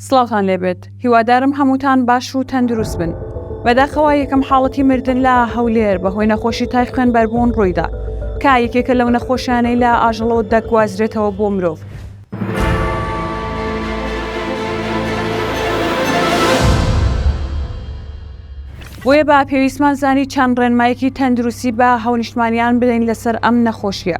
سڵاوتان لێبێت هیوادارم هەمووتان باش و تەندروست بن بەداخەوە یەکەم حاڵەتی مردن لە هەولێر بەهۆی نەخۆشی تای خوێنبەربوون ڕوویدا کە یەکێکە لەو نەخۆشیانەی لە ئاژەڵەوە دەگوازرێتەوە بۆ مرۆڤ. بۆیە بە پێویستمان زانی چەند ڕێنمایەکی تەندروستی بە هاونیشتمانیان بدەین لەسەر ئەم نەخۆشیە.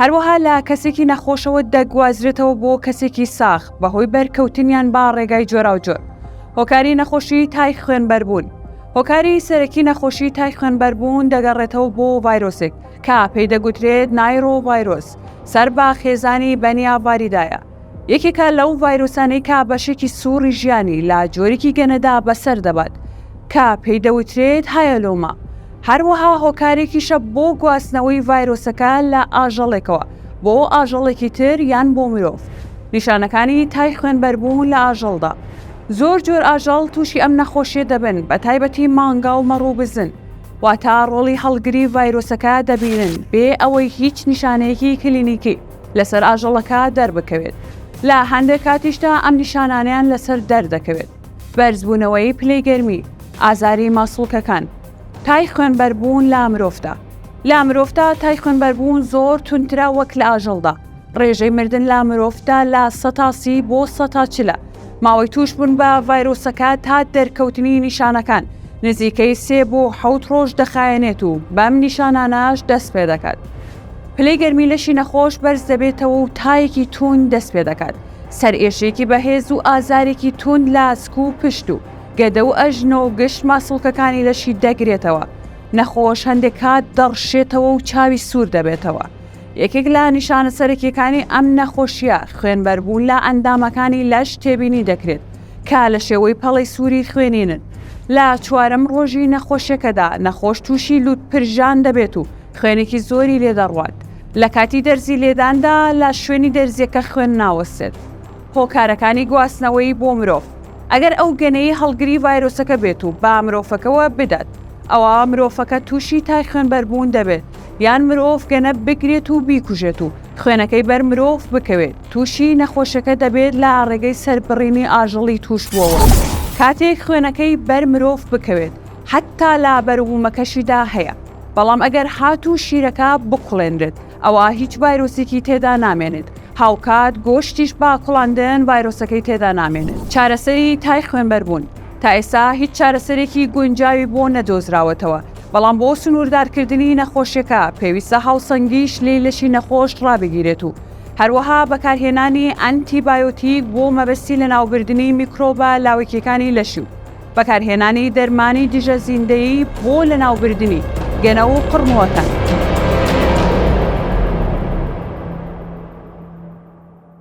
هەروەها لە کەسێکی نەخۆشەوە دەگوازرێتەوە بۆ کەسێکی ساغ بەهۆی بەرکەوتنیان با ڕێگای جۆراوجۆر هۆکاری نەخۆشی تای خوێنبەربوون هۆکاری سەرەکی نەخۆشی تای خوێنبەربوون دەگەڕێتەوە بۆ ڤایرۆسێک کە پێی دەگوترێت نایرۆڤایرۆس سەر بە خێزانی بەنیا ڤاریدایە یەکێکە لەو ڤایرۆسانەی کە بەشێکی سووڕی ژیانی لە جۆرێکی گەنەدا بەسەر دەبات کە پێی دەوترێت هایەلۆما، هەروەها هۆکارێکیشە بۆ گواستنەوەی ڤایرۆسەکە لە ئاژەڵێکەوە بۆ ئاژەڵێکی تر یان بۆ مرۆڤ. نیشانەکانی تای خوێنبەربوون لە ئاژەڵدا، زۆر جۆر ئاژەڵ تووشی ئەم نەخۆشیە دەبن بە تایبەتی مانگا و مەڕ و بزن، واتە ڕۆڵی هەڵگری ڤایرۆسەکە دەبینن بێ ئەوەی هیچ نیشانەیەکی کلینیکی. لەسەر ئاژەڵەکە دەربکەوێت، لە هەندێک کاتیشدا ئەم نیشانانەیان لەسەر دەردەکەوێت، بەرزبوونەوەی پلەی گەرمی، ئازاری ماسوڵکەکان، تای خوێنبەربوون لە مرۆڤدا، لە مرۆڤدا تای خوێنبەربوون زۆر توندترە وەک لە ئاژەڵدا، ڕێژەی مردن لە مرۆڤدا لە سەتا سی بۆ سەتا چلە، ماوەی تووشبوون بە ڤایرۆسەکە تا دەرکەوتنی نیشانەکان نزیکەی سێ بۆ حەوت ڕۆژ دەخایەنێت و بەم نیشانانەش دەست پێدەکات. پلەی گەرمی لەشی نەخۆش بەرز دەبێتەوە و تایەکی تووند دەست پێ دەکات، سەرئێشەیەکی بەهێز و ئازارێکی تووند لە ئاسک و پشت و گەدە و ئەژنۆ و گشت ماسوڵکەکانی لەشی دەگرێتەوە، نەخۆش هەندێک کات دەڕشێتەوە و چاوی سوور دەبێتەوە. یەکێک لە نیشانە سەرەکییەکانی ئەم نەخۆشییە خوێنبەربوون لە ئەندامەکانی لەش تێبینی دەکرێت کە لە شێوەی پەڵەی سووری خوێنینن. لە چوارەم ڕۆژی نەخۆشییەکەدا نەخۆش تووشی لووتپرژان دەبێت و خوێنێکی زۆری لێ دەڕوات. لە کاتی دەرزی لێداندا لە شوێنی دەرزییەکە خوێن ناوەستێت. هۆکارەکانی گواستنەوەی بۆ مرۆڤ، ئەگەر ئەو گەنەی هەڵگری ڤایرۆسەکە بێت و بە مرۆڤەکەوە بدات، ئەوا مرۆڤەکە تووشی تای خوێنبەربوون دەبێت، یان مرۆڤ گەنە بگرێت و بیکوژێت و خوێنەکەی بەر مرۆڤ بکەوێت، تووشی نەخۆشەکە دەبێت لە ڕێگەی سەربڕینی ئاژەڵی تووشبووەوە کاتێک خوێنەکەی بەر مرۆڤ بکەوێت. حەتتا لابەروبوومەکەشیدا هەیە، بەڵام ئەگەر هاتوو شیرەکە بکوڵێنرێت ئەوا هیچ ڤایرۆسێکی تێدا نامێنێت، هاوکات گۆشتیش با کوڵاندن ڤایرۆسەکەی تێدا نامێنێت. چارەسەری تای خوێنبەربوون، تا ئێستا هیچ چارەسەرێکی گونجاوی بۆ نەدۆزراوەتەوە، بەڵام بۆ سنووردارکردنی نەخۆشیەکە پێویستە هاوسەنگی شلەی لەشی نەخۆش ڕابگیرێت و هەروەها بەکارهێنانی ئەنتی بایۆتیک بۆ مەبەستی لەناوبردنی میکرۆبە لاوەکیەکانی لەشی و بەکارهێنانی دەرمانی دژە زیندەیی بۆ لەناوبردنی گەنە و قڕمووەکان.